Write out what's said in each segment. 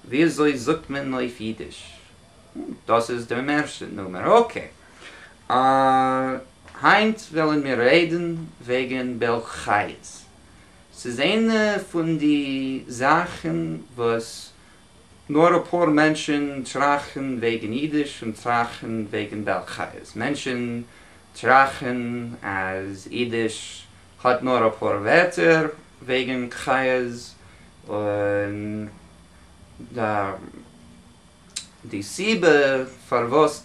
וויאזוי זאגט מען אויף אידיש? דאס איז דער מערסטע נומער, אקעי. היינט וועלן מיר רעדן וועגן בעל חיות. ס'איז איינע פון די זאכן וואס נאר אפאר מענטשן טראכן וועגן אידיש און טראכן וועגן בעל חיות. מענטשן טראכן אז אידיש האט נאר אפאר ווערטער וועגן חיות און די סיבה פארוואס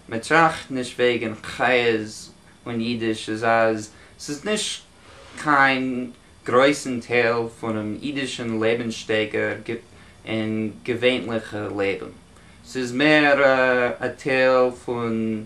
מען טראכט נישט וועגן חיות און אידיש איז אז ס'איז נישט קיין גרויסן טייל פונעם אידישן לעבנסשטייגער און געווענליכע לעבן, ס'איז מער א טייל פון.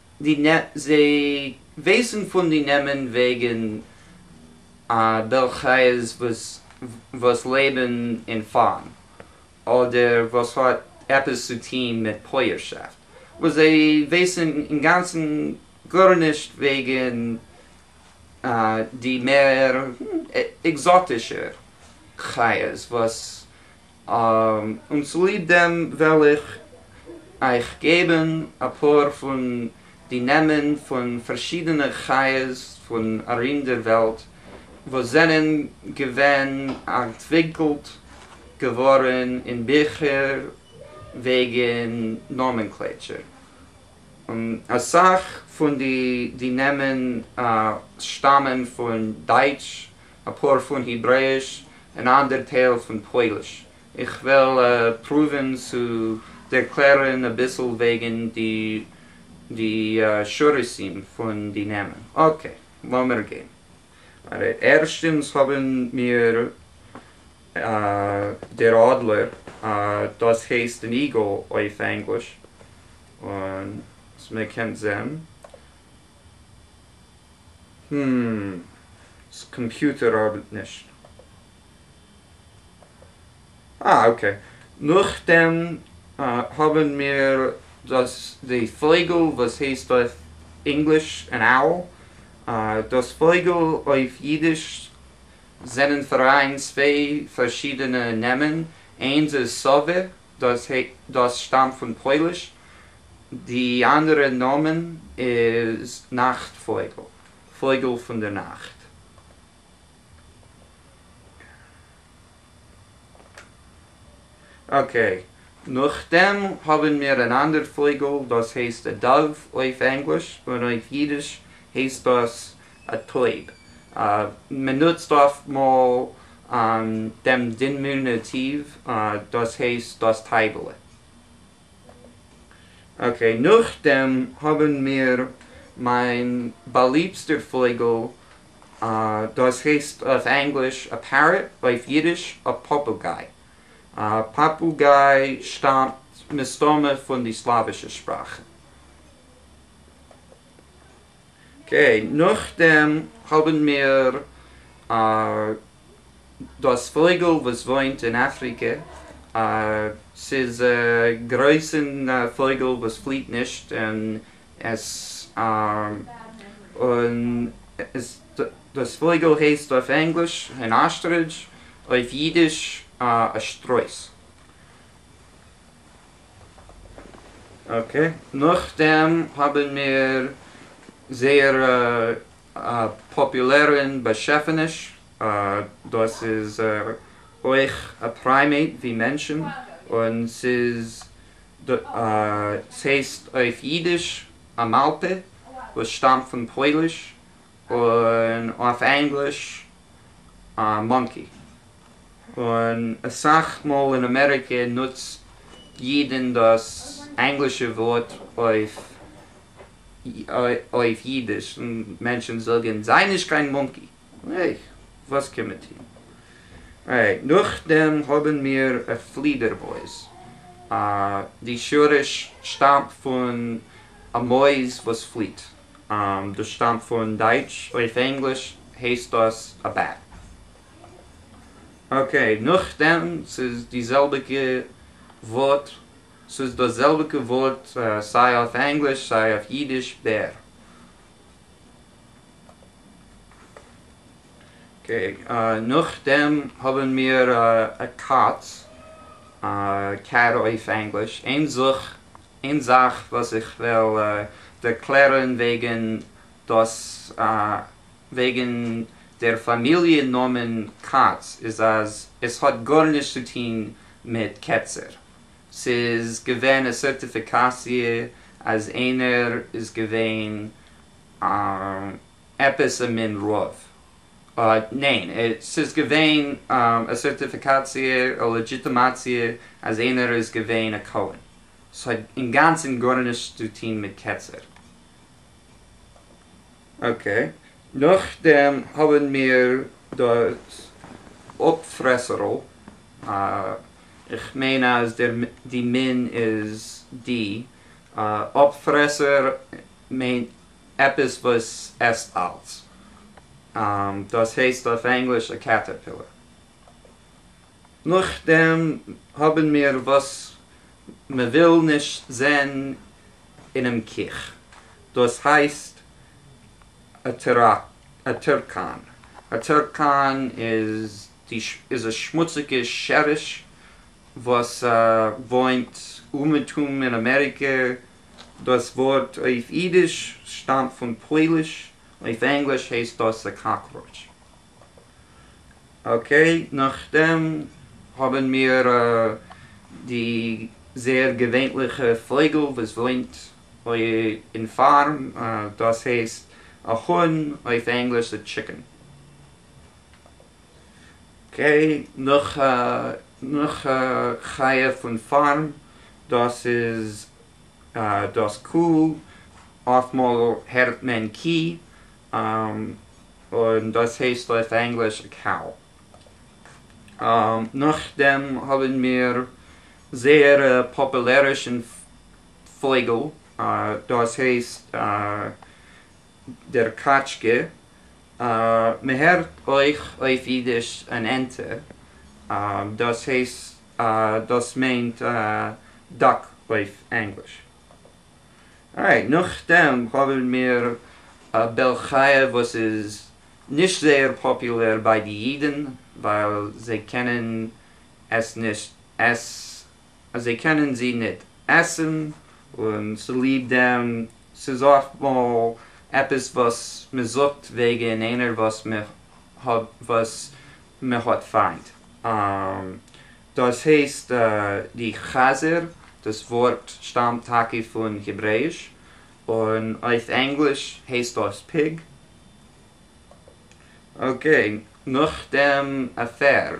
זיי ווייסן פון די נעמען וועגן א בעל חיות וואס לעבן אין פארם אדער וואס האט עפעס צו טוהן מיט פויערשאפט, און זיי ווייסן אינגאנצן גארנישט וועגן די מער עקזאטישע חיות וואס און צוליב דעם וועל איך אייך געבן אפאר פון די נעמען פון פארשידענע חיות פון ארום דער וועלט וואס זענען געווען אנטוויקלט געווארן אין ביכער וועגן נאמענקלעטשער, און אסאך פון די נעמען שטאמען פון דייטש, אפאר פון היברעיש און אנדער טייל פון פויליש, איך וועל פרואווען צו ערקלערען אביסל וועגען די שורשים פון די נעמען. אקעי לאמיר גיין ארער. ערשטענס האבען מיר דער אדלער, דאס הייסט אן איגעל אויף ענגליש, און מען קען זעהן הםםם אה אקעי, נאכדעם האבן מיר דאס די פויגל וואס הייסט אויף ענגליש an owl, דאס פויגל אויף אידיש זענען פאראיין צוויי פארשידענע נעמען, איינס איז סאווע, דאס ה' דאס שטאמט פון פויליש, די אנדערע נאמען איז נאכט פויגל, פויגל פון די נאכט. אקעי, נאכדעם האבן מיר אן אנדער פויגל דאס הייסט א דאוו אויף ענגליש, און אויף אידיש הייסט דאס א טויב, מען נוצט אפט מאל דעם דינמינוטיוו, דאס הייסט דאס טייבעלע. אקעי, נאכדעם האבן מיר מיין באליבסטער פויגל, דאס הייסט אויף ענגליש א Parrot, אויף אידיש א פאפוגיי. פאפוגיי שטאמט מסתמא פון די סלאווישע שפראך. אקעי, נאכדעם האבן מיר דאס פויגל וואס וואוינט אין אפריקע, ס'איז א גרויסן פויגל וואס פליעט נישט און עס און עס דאס פויגל הייסט אויף ענגליש אן אסטרידזש, אויף אידיש א שטרויס. אקעי, נאכדעם האבן מיר זייער א פאפולערן באשעפעניש, דאס איז אויך א פריימעיט ווי מענטשן, און ס'איז ס'הייסט אויף אידיש א מאלפע וואס שטאמט פון פויליש און אויף ענגליש מאנקי, און אסאך מאל אין אמעריקע נוצט אידן דאס ענגלישע ווארט אויף אידיש, און מענטשן זאגן זיי נישט קיין מאנקי, העי וואס קען מען טון. אוקיי, נאכדעם האבן מיר פלידערמויז, די שורש שטאמט פון א מויז וואס פליט. דאס שטאמט פון דייטש. אויף ענגליש הייסט דאס א בעט. אקעי, נאכדעם ס'איז די זעלביגע ווארט, ס'איז דאס זעלביגע ווארט סיי אויף ענגליש סיי אויף אידיש, בער. אקעי, נאכדעם האבן מיר א קאץ, קעט אויף ענגליש, אין זוך איין זאך וואס איך וויל דערקלערן וועגן דאס וועגן דער פאמיליע נאמען כץ איז אז עס האט גארנישט צו טוהן מיט קעצער, ס'איז געווען א סערטיפיקאציע אז איינער איז געווען א עפעס א מין רוב? ניין, ס'איז געווען א סערטיפיקאציע, א לעדזשיטעמאציע אז איינער איז געווען א כהן. ס'האט אינגאנצן גארנישט צו טוהן מיט קצר. אקעי, נאכדעם האבן מיר דאס אפפרעסערל, איך מיין אז די מין איז די, אפפרעסער מיינט עפעס וואס עסט אלץ. דאס הייסט אויף ענגליש א קעטערפילער. נאכדעם האבן מיר וואס מ'וויל נישט זען אינעם קיך, דאס הייסט א טערקאן. א טערקאן איז א שמוציגע שעריש וואס וואוינט אומעטום אין אמעריקע דאָס וואָרט אויף ייִדיש שטאַמט פֿון פּויליש, אויף ענגליש הייסט דאָס אַ קאָקראָטש. אָקעי, נאָכדעם האָבן מיר די זעהר געווענליכע פֿויגל וואָס וואוינט אין פֿאַרם, דאָס הייסט אַ האָן, אויף ענגליש אַ טשיקען. גיי נאך א נאך א חיה פון פארם, דאס איז דאס קו, אפטמאל הערט מען קי, און דאס הייסט אויף ענגליש א קאו. נאכדעם האבן מיר זייער א פאפולערישן פויגל, דאס הייסט דער קאטשקע, מען הערט אויך אויף אידיש אן ענטע, דאס הייסט דאס מיינט דאק אויף ענגליש. ארייט, נאכדעם האבן מיר א בעל חי' וואס איז נישט זייער פאפולער ביי די אידן ווייל זיי קענען עס נישט אז זיי קענען זי ניט עסן, און צוליב דעם ס'איז אפט מאל עפעס וואס מען זאגט וועגן איינער וואס מען האב וואס מען האט פיינט, דאס הייסט די חזיר, דאס ווארט שטאמט טאקע פון העברעאיש, און אויף ענגליש הייסט דאס Pig. אקעי, נאכדעם א פערד,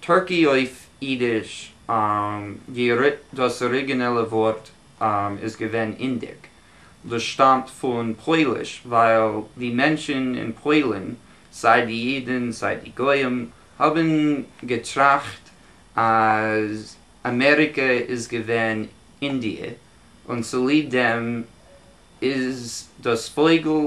טורקי אויף אידיש, דאס אריגינעלע ווארט איז געווען אינדיק, דאס שטאמט פון פויליש ווייל די מענטשן אין פוילן, סיי די אידן סיי די גוים, האבן געטראכט אז אמעריקע איז געווען אינדיע, און צוליב דעם איז דאס פויגל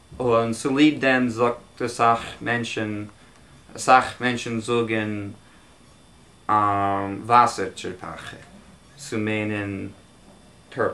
און צוליב דעם זאגט אסאך מענטשן, אסאך מענטשן זאגן וואסער טשערפאכע צו מיינען טורטל.